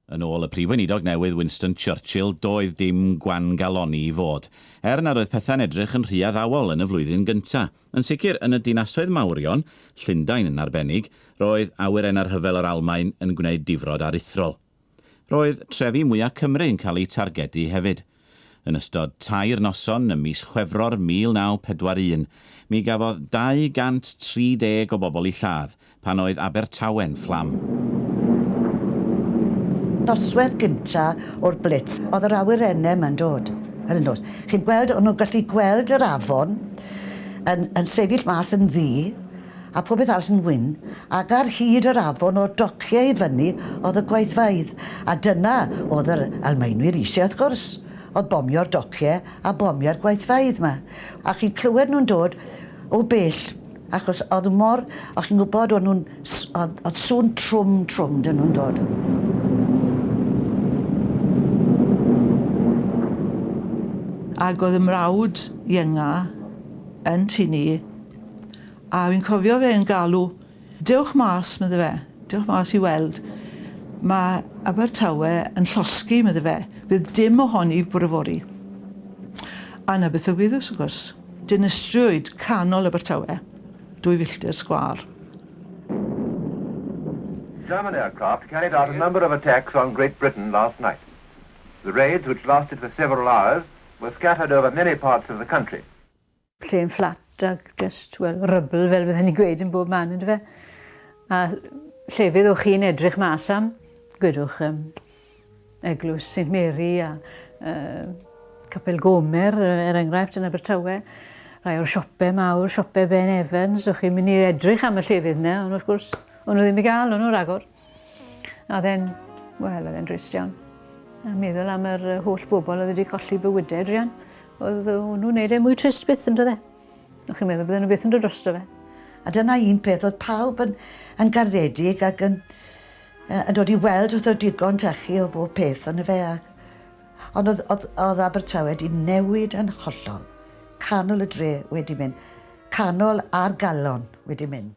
Yn ôl y Prif Weinidog newydd Winston Churchill, doedd dim gwan-galonni i fod, er nad oedd pethau'n edrych yn rhy addawol yn y flwyddyn gyntaf. Yn sicr, yn y dinasoedd mawrion, Llundain yn arbennig, roedd awyrennau'r rhyfel yr Almaen yn gwneud difrod aruthrol. Roedd trefi mwya' Cymru yn cael eu targedu hefyd. Yn ystod tair noson ym mis Chwefror 1941, mi gafodd 230 o bobl eu lladd pan oedd Abertawe'n fflam. Noswaith gynta' o'r blitz, oedd yr awyrenem yn dod, yn dod. Chi'n gweld, o'n nhw'n gallu gweld yr afon yn yn sefyll mas yn ddu. a phopeth arall yn wyn, ac ar hyd yr afon o'r dociau i fyny o'dd y gweithfeydd, a dyna o'dd yr Almaenwyr isie wrth gwrs, o'dd bomio'r docie a bomio'r gweithfeydd 'ma, a chi'n clywed nhw'n dod o bell, achos o'dd mor, o' chi'n gwbod o'n nhw'n s- o'dd o'dd sŵn trwm trwm 'da nhw'n dod. Ag o'dd 'y mrawd ienga yn tŷ ni, A fi'n cofio fe yn galw, dewch mas, medde fe, dewch mas i weld. Mae Abertawe yn llosgi, medde fe, fydd dim ohoni bore fori. A na beth ddigwyddus, wrth gwrs. Dinistriwyd canol Abertawe, dwy filltir sgwâr. German aircraft carried out a number of attacks on Great Britain last night. The raids, which lasted for several hours, were scattered over many parts of the country. Lle yn fflat ac just, wel, rybl fel fydden ni'n gweud yn bob man, ynddo fe? A llefydd o'ch chi'n edrych mas am, gwedwch um, Eglwys St Mary a uh, Capel Gomer, er enghraifft, yn Abertawe rhai o'r siopau mawr, siopau Ben Evans, o'ch chi'n mynd i edrych am y llefydd yna, ond wrth gwrs, o'n nhw ddim i gael, o'n nhw ragor. A then, wel, oedd e'n drist iawn. A meddwl am yr holl bobl oedd wedi colli bywydau, Drian. Oedd nhw'n neud e mwy trist byth yn dydde. O'ch chi'n meddwl bydden nhw byth yn dod drosto fe. A dyna un peth, oedd pawb yn, yn garddedig ac yn, yn dod i weld wrth oedd digon tachu o bob peth ond fe. A, ond oedd, oedd, oedd Abertawe wedi newid yn hollol. Canol y dre wedi mynd. Canol ar galon wedi mynd.